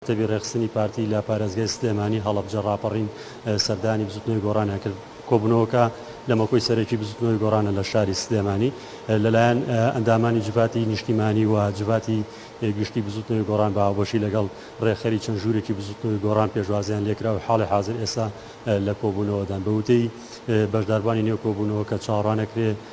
کتێبی ڕێکخستنی پارتی لە پارێزگای سلێمانی هەڵەبجە ڕاپەڕین سەردانی بزوتنەوەی گۆڕانیان کرد. کۆبوونەوەکە لە مەکۆی سەرەکی بزوتنەوەی گۆڕانە لە شاری سلێمانی لەلایەن ئەندامانی جڤاتی نیشتیمانی و جڤاتی گشتی بزوتنەوەی گۆڕان بە هاوبەشی لەگەڵ ڕێکخەری چەند ژوورێکی بزوتنەوەی گۆڕان پێشوازیان لێکرا و حاڵی حازر ئێستا لە کۆبوونەوەدان. بە وتەی بەشداربوانی نێو کۆبوونەوەکە چاوەڕوانەکرێ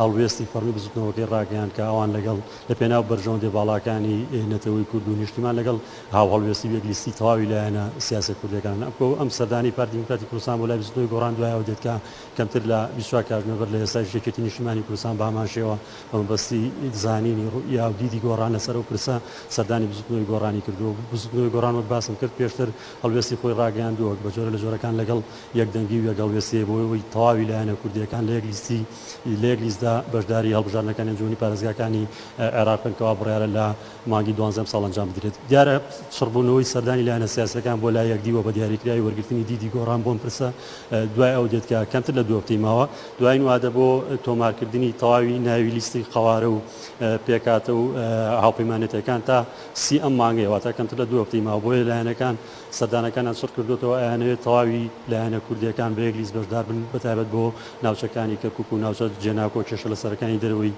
هەڵوێستی فەڕمی بزوتنەوەکەی ڕاگەیاند کە ئەوان لەگەڵ لەپێناو بەرژەوەندیە باڵاکانی نەتەوەی کورد و نیشتیمان لەگەڵ هاوهەڵوێستی و یەکلیستی تەواوی لایەنە سیاسیە کوردیەکانن ئەمکۆ ئەم سەردانەی پارتی دیموکراتی کوردستان بۆ لای بزوتنەوەی گۆڕان دوایەوە دێت کە کەمتر لە بیست و چوار کاتژمێر بەر لە ئێستایش یەکێتی نیشتیمانی کوردستان بەهەمان شێوە بە مەبەستی زانینی ڕوئیا و دیدی گۆڕان لەسەر ئەو پرسە سەردانی بزوتنەوەی گۆڕانی کردووە و بزوتنەوەی گۆڕان وەک باسم کرد پێشتر هەڵوێستی خۆی ڕاگەیاندووە بە جۆرە لە جۆرەکان لەگەڵ یەکدەنگی و یەکهەڵوێست سێ بۆ ئەوەی تەواوی لایەنە کوردییەکان لە یەک لیستی لە یەک لیستدا بەشداری هەڵبژاردنەکانی ئەنجومەنی پارێزگاکانی عێراق بکەن کەوا بڕیارە لە مانگی دوانزە ئەمساڵ ئەنجام بدرێت. دیارە چڕبوونەوەی سەردانی لایەنە سیاسییەکان بۆ لای یەکدیوە بە دیاریکراوی وەرگرتنی دیدی گۆڕان بۆ ئەم پرسە دوای ئەو دێت کە کەمتر لە دوو هەفتەی ماوە دوایین وادە بۆ تۆمارکردنی تەواوی ناوی لیستی قەوارە و پێکهاتە و هاوپەیمانێتییەکان تا سی ئەم مانگەیە واتە کەمتر لە دوو هەفتەی ماوە بۆیە لایەنەکان سەردانەکانیان چڕ کردۆتەوە، ئەیانەوێت تەواوی لایەنە کوردییەکان بە یەک لیست بەشدار بن، بە تایبەت بۆ ناوچەکانی کەرکوک و ناوچە جێناکۆ و کێشە لەسەرەکانی دەرەوەی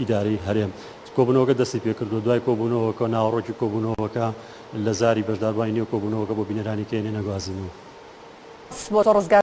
ئیدارەی هەرێم. کۆبوونەوەکە دەستی پێکردووە، دوای کۆبوونەوەکە ناوەڕۆکی کۆبوونەوەکە لە زاری بەشداربووانی نێو کۆبوونەوەکە بۆ بینەرانی کەینێ نەگوازینەوە. سپۆرت و ڕزگار